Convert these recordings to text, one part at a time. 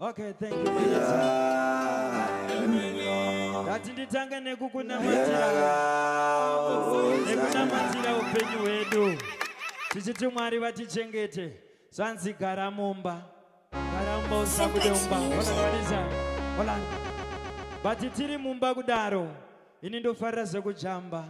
Okay, thank you. Ndati nditange nekukunamatira nekunamatira upenyu hwedu tichiti Mwari vatichengete zvanzi gara mumba gara mumba usabude mumba vakakwanisa olanda but tiri mumba kudaro ini ndofarira zvekujamba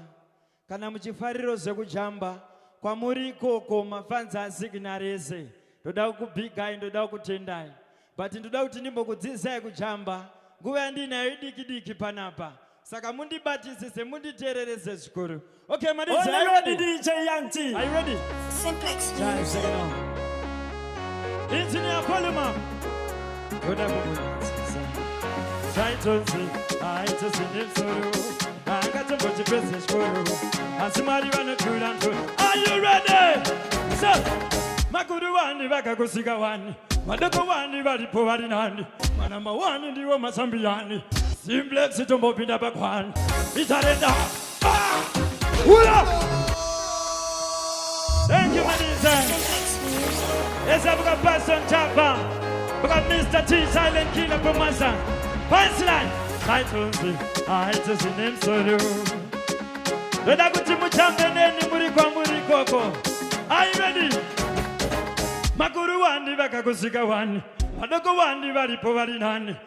Kana muchifariro zvekujamba kwamuri ikoko mafanzi asignal ese ndoda kukubigai ndoda kukutendai but ndoda kuti ndimbokudzidzisai kujamba nguva yandiinayo idiki diki panapa saka mundibatisise munditererese zvikuru okay madidj are you ready dj young t are you ready simplex yeah, engineer volume up ndoda kukunyadzisa zvainzonzi aite zvine msoro haangatombochipedze chikoro asi mwari vanotura ndo ayurede so makuru wani vakakusika wani madoko wani varipo vari nani manamba wani ndiwo masambiyani simblexitombopinda pakwani itarenda Thank you, Manisa. Yes, I've got Pastor Java. I've got Mr. T, Silent Killer from Masa. Punchline. I told you, I just in him so you. Ndoda kuti mutambe neni muri kwamuri ikoko. Are you ready? Makuru wani vakakusika wani. Vadoko wani varipo vari nani.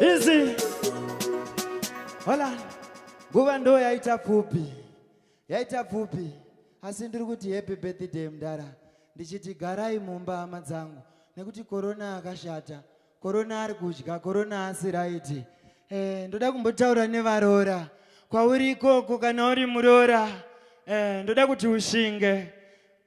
Easy. Hola. Nguva ndo yaita pfupi. Yaita pfupi. Asi ndiri kuti happy birthday mdara. Ndichiti garai mumba hama dzangu nekuti korona akashata. Korona ari kudya, korona asi right. Eh, ndoda kumbotaura nevarora. Kwauri ikoko kana uri murora. Eh, ndoda kuti ushinge.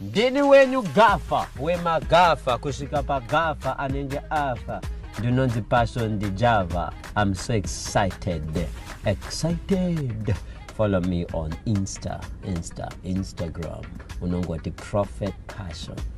ndini wenyu gafa wemagafa kusvika pagafa anenge afa ndinonzi passion dijava im so excited excited follow me on insta insta instagram unongoti prophet passion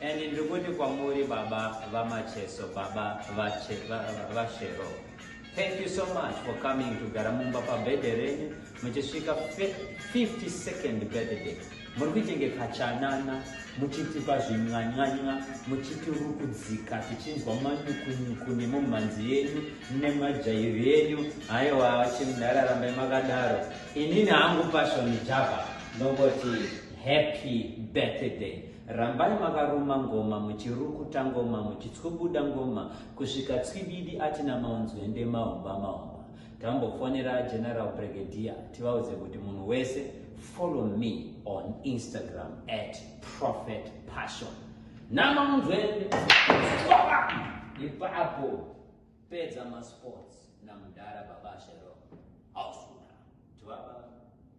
And ndiri kuti kwamuri baba vaMacheso, baba vaShero. Thank you so much for coming to Garamumba pabirthday renyu muchisvika 52nd birthday. Muri kuitenge kachanana muchitipa zvimwanyanya muchitirukudzika tichinzwa manyukunyuku nemumhanzi yenyu nemajairi enyu haiwa chimudhara rambai makadaro inini hangu pashoni java ndongoti happy birthday Rambai makaruma ngoma muchirukuta ngoma muchitskubuda ngoma kusvika tswibidi atina maunzwende mahomba mahomba. Tambofonera General Brigadier tivaudze kuti munhu wese follow me on Instagram at Prophet Passion. Namaunzwende ipapo pedza masports namudhara baba Shero. Ausuna. Tuvaba.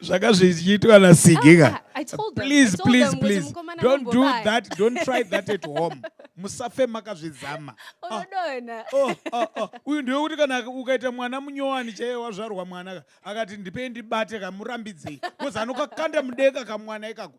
zvanga zvichiitwa nasigika ah, ah, please please please don't do that don't try that at home musafe makazvizama ah. oh, oh, oh, uyu ndiwe kuti kana ukaita mwana munyowani chaiye wazvarwa mwana akati ndipei ndibate kamurambidzei bcause anokakanda mudeka kamwana ikako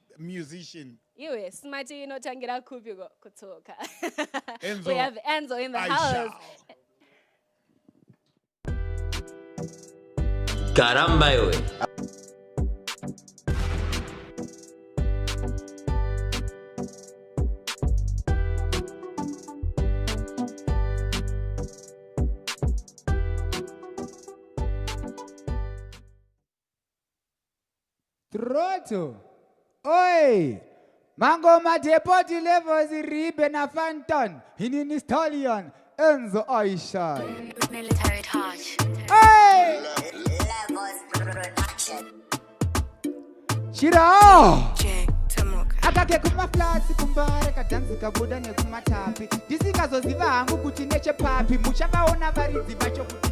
musician. Iwe smart inotangira kupi kutsoka. Enzo. We have Enzo in the I house. Shall. Caramba, iwe. Troto. Oi! Mangoma Depoti Levels Ribe na Fanton. Hinini Stallion. Enzo Aisha. Military touch. Oi! Levels production. Shira! Jack Tamuka. akake kumaflasi kumbare kadhanzi kabuda nekumatapi ndisikazoziva hangu kuti nechepapi muchavaona varidzi vacho kuti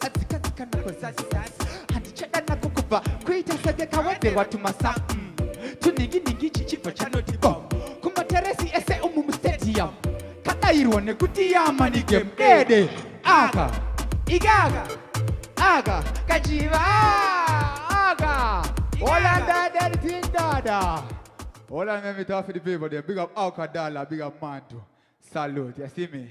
Atsika tsika nako zasi zasi Handichada nako kubva Kuita senge kawedzerwa tumasa mm. Tunhingi nhingi chichibva chanoti bom Kumateresi ese umu mustadium Kadairwa nekuti yamani game dede Aka Ikaka Aka Kachiva Aka Hola dada Tindada Hola memi tafi the people there Big up Alcadala Big up Mandu Salute You see me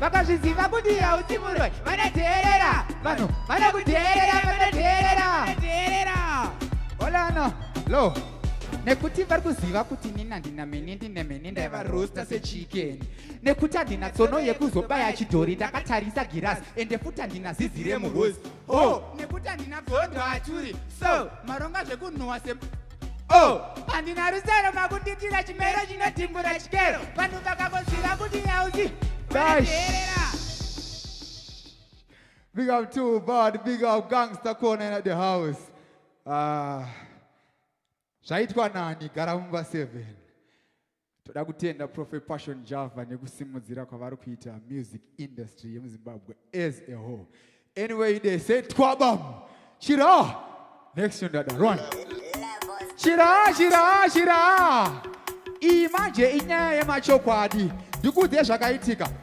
vakazviziva kuti hausi muroi vanoteerera vanhu vanokuteerera vanoteerera teerera olano lo nekuti vari kuziva kuti nini handina mini ndine mini ndaivarosta sechikeni nekuti handina tsono yekuzobaya chidhori ndakatarisa girasi ende futi handina zizi remurozi o nekuti handina bvondo achuri so maronga zvekunhuwa se Oh, handina rusero makunditira chimero chinotimbura chikero vanhu vakakoziva kuti yauzi vateerera Big up too bad, big up gangster corner in the house. Uh, zvaitwa nani gara mumba 7 Toda kutenda Prophet Passion Java nekusimudzira kwavari kuita music industry yemuZimbabwe as a whole. Anyway, they say twabam. Chira. Next one dada, run. Chira, chira, chira. Iyi manje inyaya yemachokwadi. Ndikuudze zvakaitika.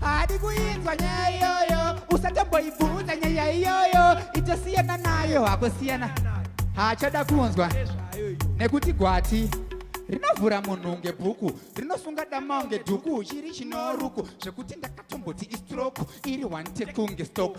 hadi kuinzwa nyaya iyoyo usatomboibvunza nyaya iyoyo itosiyana nayo hakusiyana haachada kunzwa nekuti gwati rinovhura munhu ngebhuku rinosunga damao ngedhuku chiri chinoruku zvekuti ndakatomboti istroku iri one tekunge stoku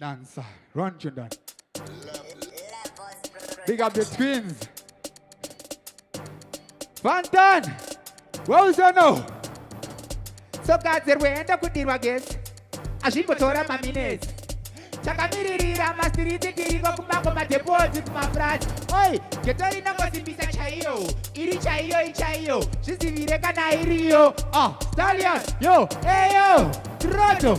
Dancer. Run to that. Big up the twins. Fantan. Well, so no. So guys, there we end up with the against. Ashimbotora maminesi. takamiririra masiriti tiriko kumango madhepodzi kumafurazi oi geto rinongosimbisa chaiyo iri chaiyo ichaiyo zvizivire kana iriyo ah, stallion yo eyo troto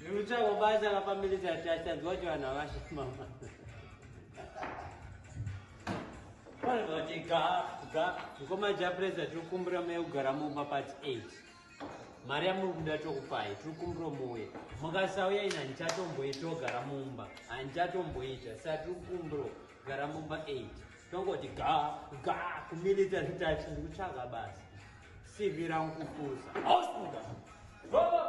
Ndikutsvaga basa la family chat achanzwa kuti vanhu havashama. Vanhu vati ga ga mukoma Japreza tiri kukumbira mai kugara mumba part 8. Mari yamuri kuda tokupai tiri kukumbira muuye. Mukasauya ina handichatomboita ogara mumba handichatomboita saka tiri kukumbira gara mumba 8 tongoti ga ga kumilitary touch ndikutsvaga basi cv rangu kupusa ausuka baba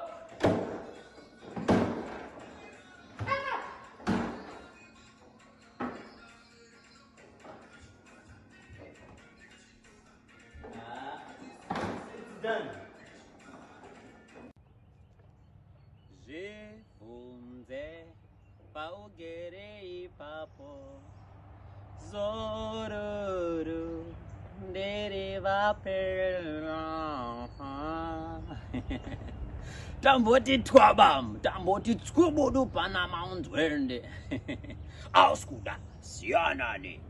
Zve, vunze, paugere ipapo zororo ndere vapera tamboti twabam tamboti tskubudu pana maunzwende auskuda siyanani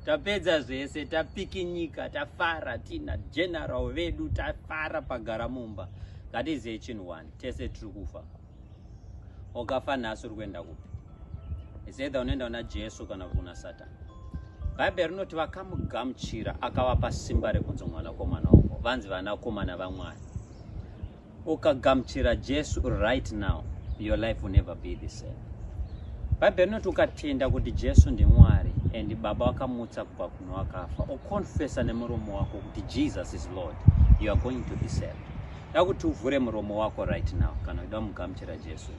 tapedza zvese tapikinyika tafara tina general vedu tafara pagara mumba that is echin one tese tiri kufa okafa nhasi uri kuenda kupi isedha unoenda kuna jesu kana kuti kuna satani bhaibheri rinoti vakamugamuchira akavapa simba rekunzi mwanakomana wavo vanzi vanakomana vamwari ukagamuchira jesu right now your life will never be the same bhaibheri rinoti ukatenda kuti jesu ndimwari and baba wakamutsa kubva kuno wakafa ukonfesa nemuromo wako kuti jesus is lord you are going to be saved Dakuti uvhure muromo wako right now kana uchida kumugamuchira Jesu.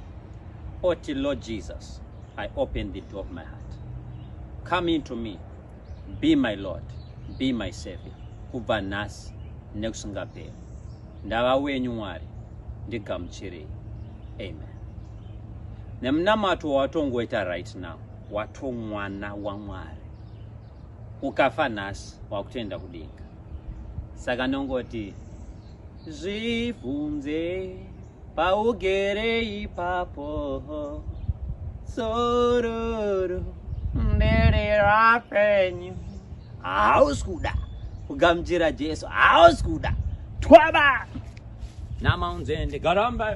Oti Lord Jesus, I open the door of my heart. Come into me. Be my Lord. Be my Savior. Kubva nhasi nekusingaperi. Ndava wenyu Mwari. Ndigamuchirei. Amen. Nemunamato wawatongoita right now wato mwana waMwari. Ukafa nhasi wakutoenda kudenga. Saka nongoti Zvibvunze paugere ipapo sororo ndere rapenyu hausi kuda kugamuchira jesu hausi kuda twaba namaunzende garamba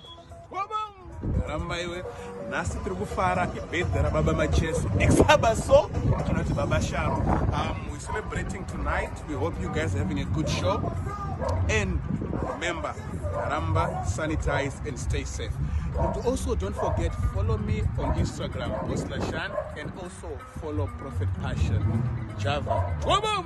ramba iwe nhasi tiri kufara ibhedha rababa macheso exaba so kana kuti baba sharo um, we're celebrating tonight we hope you guys having a good show and remember ramba sanitize and stay safe and also don't forget follow me on instagram boslashan and also follow prophet passion java Wabam!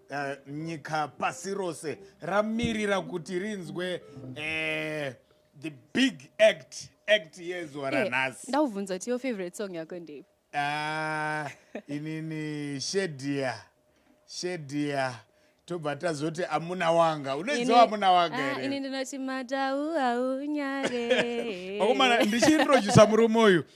Eh, nyika pasi rose ramirira kuti rinzwe eh, the big act act yezuva eh, ranhasi ndaubvunza kuti yo favorite song yako ndei ah, inini shedia shedia tobva tazoti amuna wanga unoiziva amuna wanga ah, here ini ndinoti matau aunyare vakomana ndichiintrojusa murume uyu